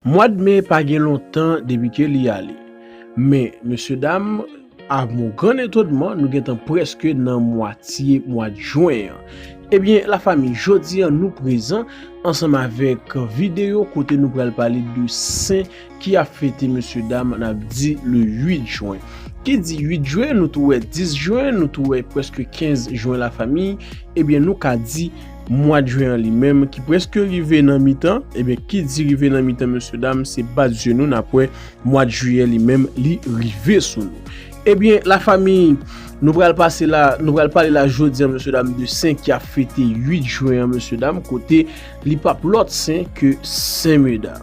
Mwad me pa gen lontan depi ke li ale. Men, mesye dam, a mon gran etonman, nou gentan preske nan mwatye mwad jwen an. Ebyen, la fami, jodi an nou prezan ansanm avèk videyo kote nou pral pale de sen ki ap fete mesye dam n ap di le 8 jwen. Ki di 8 jwen, nou tou wè 10 jwen, nou tou wè preske 15 jwen la fami, ebyen nou ka di. Mwad jwen an li menm ki preske rive nan mitan, ebyen ki di rive nan mitan mesye dam se bat zye nou nap wè mwad jiyè li menm li rive sou nou. Ebyen la fami nou pral pase la, nou pral pale la jodi an mesye dam de sen ki ap fete 8 jwen an mesye dam kote li pap lòt sen ke sen meda.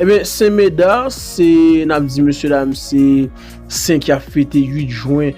Ebyen sen meda se nap di mesye dam se sen ki ap fete 8 jwen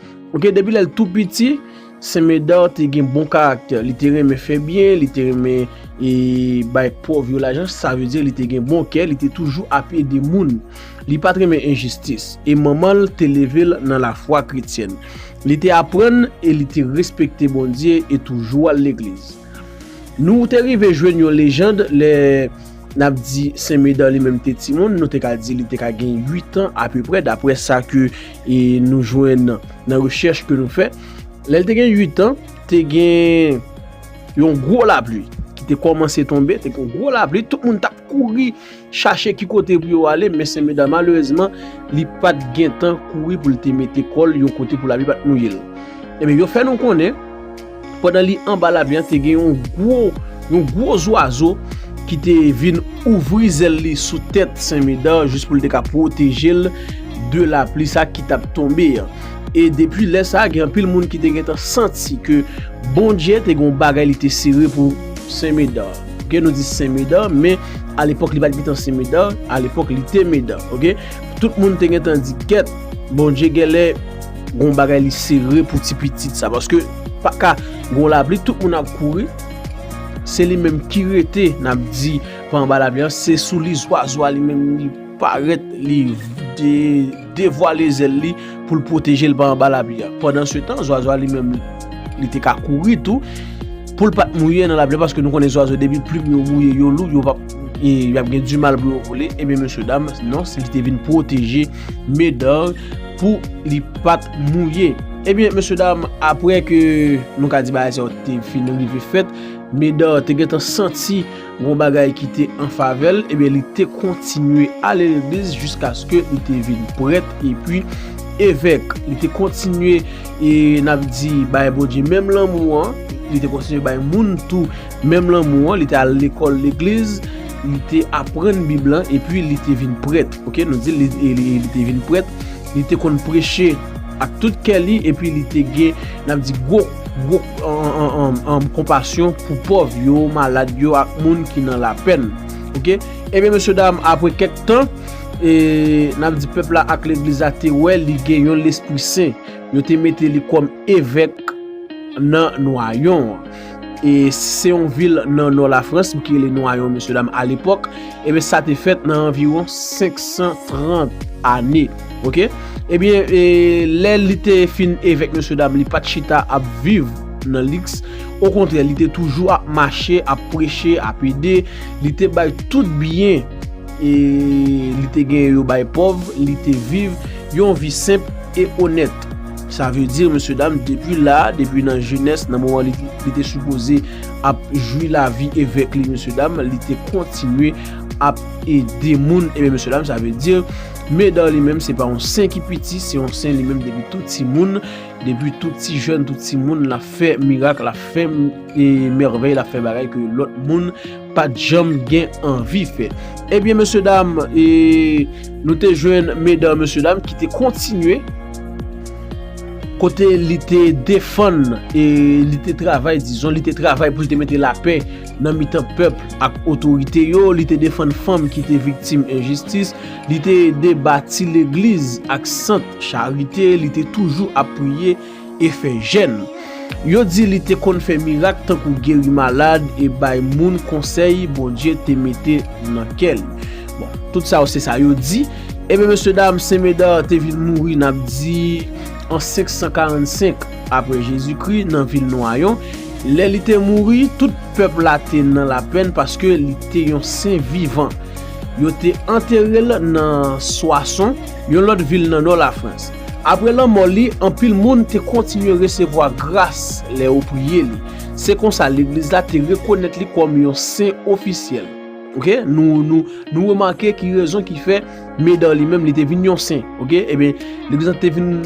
Ok depi lèl tou piti Sen Medard te gen bon karaktè li te renmen fè byen li te renmen e bay pòv yo lajan sa vle di li te gen bon kè li te toujou ap ede moun li pat renmen enjistis e manmanl te level nan lafwa kretyèn li te aprann e li te respekte Bondye e toujou al legliz nou te rive jwenn yon lejand lè nap di Sen Medard li menm te timoun nou te ka di li te ka gen 8 an apeprè daprè sa ke e nou jwenn nan rechèch ke nou fè, lè l te gen 8 an, te gen yon gwo lapli ki te kòmanse tonbe, te gen yon gwo lapli, tout moun tap kouri chache ki kote pou yo ale, men Senmèda malerezman li pat gen tan kouri pou l te mete kò l yon kote pou lapli pat mouye l. Ebyen yo fè nou konnen, Pandan li anba lamè a, te gen yon gwo, yon gwo zwazo ki te vin ouvri zèl li sou tèt Sen Medard jis pou li te ka pwoteje l de lapli sa ki t ap tonbe an. E depi lè sa a, gen anpil moun ki te gentan santi ke Bondye te gen yon bagay li te sere pou Sen Medard. Ok, nou di Sen Medard, men alepòk li pa t gentan Sen Medard, alepòk li te Medard. Ok, tout moun te gentan di, Kèt, Bondye genlè. Gon bagay li sere pou ti pitit sa paske pa ka gon labli tout moun ap kouri se li menm ki rete nap di pa anba labli an se sou li zwazo a li menm li paret li devwale zel li pou l pwoteje l pa anba labli an pandan se tan zwazo a li menm li te ka kouri tou pou l pat mouye nan labli an paske nou konnen zwazo depi plim yo mouye yo lou yo pap e yap gen di mal pou yo vole e men mesye dam non se li te vin pwoteje Medard pou li pat mouye. Ebyen mesye dam apre ke nou ka di bagay sa yo te fin rive fèt, Medard te gentan santi gon bagay ki te an favè l, ebyen li te kontinye ale legliz jiskaske li te vin prèt epi evèk. Li te kontinye e n ap di bay Bondye menm lanmou an, li te kontinye bay moun tou Menm lanmou an, li te al lekòl legliz, li te aprann Bib la, epi li te vin prèt. Ok, nou di li te vin prèt, li te konn preche ak tout kè li, epi li te gen, n ap di, gwo, gwo, konpasyon pou pòv yo, malad yo, ak moun ki nan lapèn. Ok, ebyen, mesye dam, apre kèk tan, e, n ap di, pèp la ak legliz la te wè li gen yon lespri sen. Yo te mete li kòm evèk nan Nwayon an. E se yon vil nan nò la Frans ki rele Noyon mesye dam a lepòk. Ebyen sa te fèt nan anviron 530 ane. Ok. Ebyen e lè li te fin evèk mesye dam li pat chita ap viv nan liks. Okontrè li te toujou ap mache, ap preche, ap ede. Li te bay tout byen e li te gen yo bay pòv. Li te viv yon vi senp e onèt. Sa vle di mesye dam depi la, depi nan jenès, nan moman li te sipoze ap jwi lavi evèk li mesye dam, li te kontinye ap ede moun e men mesye dam sa vle di Médard li menm se pa yon sen ki piti, se yon sen li menm depi tou ti moun, depi tou ti jèn, tou ti moun l ap fè mirak, l ap fè mèvèy, l ap fè bagay ke lòt moun. Pat janm gen anvi fè. Ebyen mesye dam, e nou te jwenn medan mesye dam ki te kontinye kote li te defann e li te travay, dizon li te travay pou li te mete lapè nan mitan pèp ak otorite yo, li te defann fanm ki te viktim enjistis, li te ede bati legliz ak sant charite, li te toujou ap priye. e fè jèn. Yo di li te konn fè mirak tankou geri malad e bay moun konsèy Bondye te mete nan kè li. Bon, tout sa yo se sa yo di. Ebyen mesye dam, Sen Medard te vin mouri n ap di an 545 apre Jezikri nan vil Nwayon. Lè li te mouri, tout pèp la te nan lapenn paske li te yon sen vivan. Yo te antere l nan Soissons, yon lòt vil nan nò Lafrans. Apre lanmò li, anpil moun te kontinye resevwa gras lè yo priye li. Se konsa Legliz la te rekonèt li kòm yon sen ofisyèl. Ok, nou remake ki rezon ki fè Medard li menm li te vin yon sen. Ok, enben, Legliz la te vin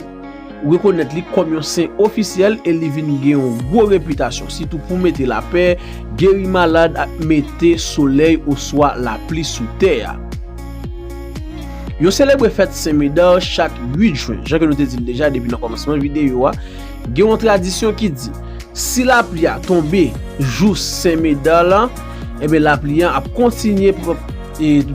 rekonèt li kòm yon sen ofisyèl e li vin gen yon gwo repitasyon, sitou pou mete lapè, geri malad ak mete solèy oswa lapli sou tè a. Yo selebre fèt Sen Medard chak 8 jwen. Jan ke nou te di l deja depi nan kòmansman videyo a, gen yon tradisyon ki di, si lapli a tonbe jou Sen Medard lan, enben lapli an ap kontinye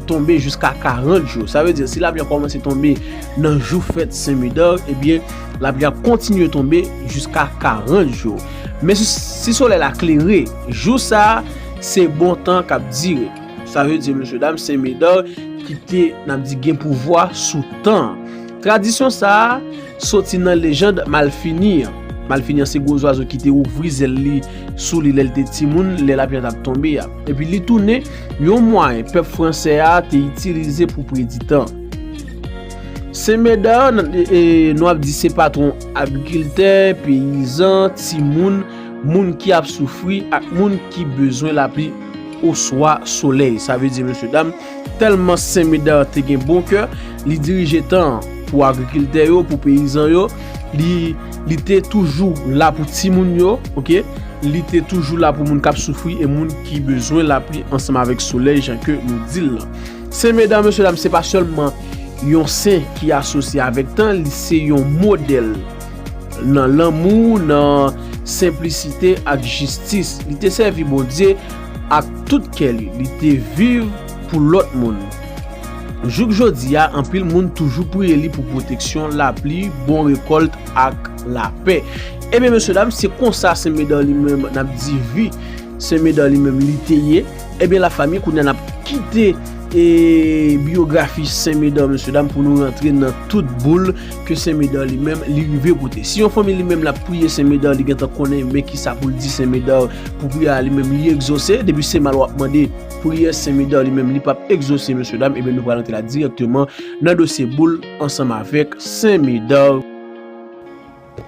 tonbe jiska 40 jou. Sa vle di, si lapli an kòmanse tonbe nan jou fèt Sen Medard, enben lapli ap kontinye tonbe jiska 40 jou. Men si solèy la klere, jou sa a, se bon tan k ap dire. Sa vle di mesye dam se Medard ki te nan di gen pouvwa sou tan. Tradisyon sa a soti nan lejand Malfini an. Malfini an se gwo zwazo ki te ouvri zèl li sou li lè l te timoun, lè lapli a t ap tonbe a. Epi li tounen yon mwayen pèp franse a te itilize pou predi tan. Sen Medard nou ap di se patwon agrikiltè, peyizan, timoun, moun ki ap soufri ak moun ki bezwen lapli. oswa solèy. Sa vle di mesye dam, tèlman Sen Medard te gen bon kè, li dirije tan an pou agrikiltè yo, pou peyizan yo, li te toujou la pou timoun yo, li te toujou la pou moun k ap soufri e moun ki bezwen lapli ansanm avèk solèy jan ke nou di l lan. Sen Medard mesye dam se pa sèlman yon sen ki asosye avèk tan, li se yon modèl. Nan lanmou, nan senplisite ak jistis, li te sèvi Bondye ak tout kè li. Li te viv pou lòt moun. Jouk jodi a, anpil moun toujou priye li pou pwoteksyon, lapli, bon rekòlt ak lapè. Ebyen mesye dam, se konsa Sen Medan li menm n ap di vi Sen Medan li menm li te ye. Ebyen lafanmi, kounye a n ap kite biyografi Sen Medan mesye dam pou nou rantre nan tout boul. ke sen medar li menm li rive pote si yon fanmi li menm lap priye sen medar li gentan konnen men ki sa poul di sen medar pou priyè a li menm li egzose depi se mal wap mande priyè sen medar li menm li pap egzose mesye dam ebyen nou pral antre la direkteman nan dosye boul ansanm avèk sen medar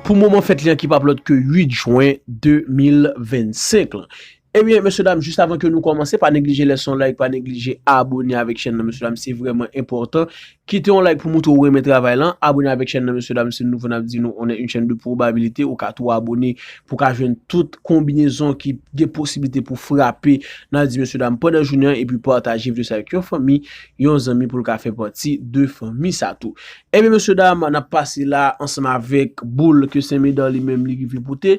pou moman fèt li an ki pap lòt ke 8 jwen 2025 lan. Ebyen mesye dam jis avan ke nou kòmanse pa neglije lèse yon like pa neglije abone avèk chèn nan mesye dam se vrèman enpòtan kite yon like pou moutre ou renmen travay lan abone avèk chèn nan mesye dam si nou nouvo nap di nou on est une chaîne de probabilité ou ka tou abone pou ka jwenn tout konbinezon ki gen posiblite pou frape nap di mesye dam pandan jounen an epi pataje videyo sa avèk yon fanmi yon zanmi poul ka fè pati de fanmi sa tou ebyen mesye dam nap pase la ansanm avèk boul ke senmedan li menm li rive pote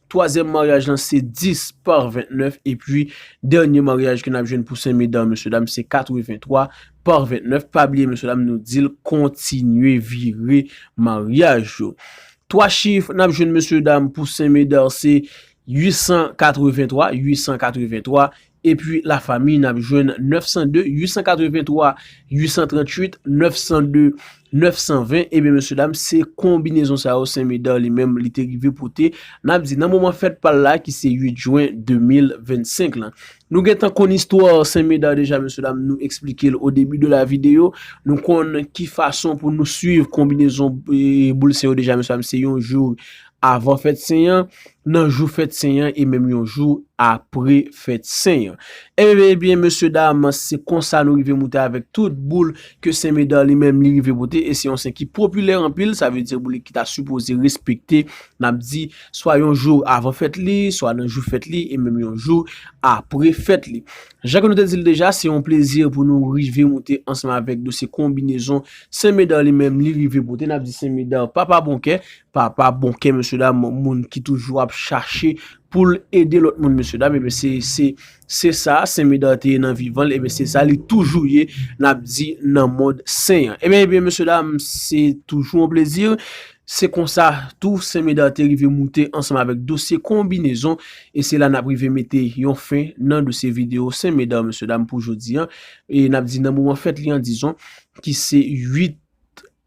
Twazyèm maryaj lan se 10 par 29 epi dènye maryaj ke nap jwenn pou Sen Medan mesye dam se 83 par 29 pa bliye mesye dam nou dil kontinye vire maryaj yo. Twa chif nap jwenn mesye dam pou Sen Medan se 883, 883, Epi la fami n ap jwenn 902, 883, 838, 902, 920, ebyen mesye dam se konbinezon sa yo Sen Medard li menm li te rive pote, n ap di nan moman fèt pa l la ki se 8 jwen 2025 lan. Nou gen tan konn istwa Sen Medard deja mesye dam nou esplike l o debi de la videyo, nou konn ki fason pou nou swiv konbinezon boul Sen yo deja mesye dam se yon jou Avan fèt sen an, nan jou fèt sen an e menm yon jou apre fèt sen an. Enben, enben, mesye dam, se konsa nou rive moute avèk tout boule ke Sen Medard li menm li rive pote e se yon sen ki popilè anpil, sa vle di boule ki ta sipoze respekte, n ap di, swa yon jou avan fèt li, swa nan jou fèt li e menm yon jou apre fèt li. Jan ke nou te di l deja, se yon plezi pou nou rive moute ansanm avèk dosye konbinezon Sen Medard li menm li rive pote, n ap di Sen Medard papa bon kè, Papa bon kè mesye dam moun ki toujou ap chache poul ede lòt moun mesye dam ebyen se se sa sen Medard te ye nan vivanl ebyen se sa li toujou ye nap di nan mond sen an ebyen ebyen mesye dam se toujou yon plezi se konsa tou sen Medard te rive moute ansanm avèk dosye konbinezon e se la nap rive mete yon fen nan dosye video sen Medard mesye dam pou jodi an e nap di nan moman fèt li an dizon ki se 8.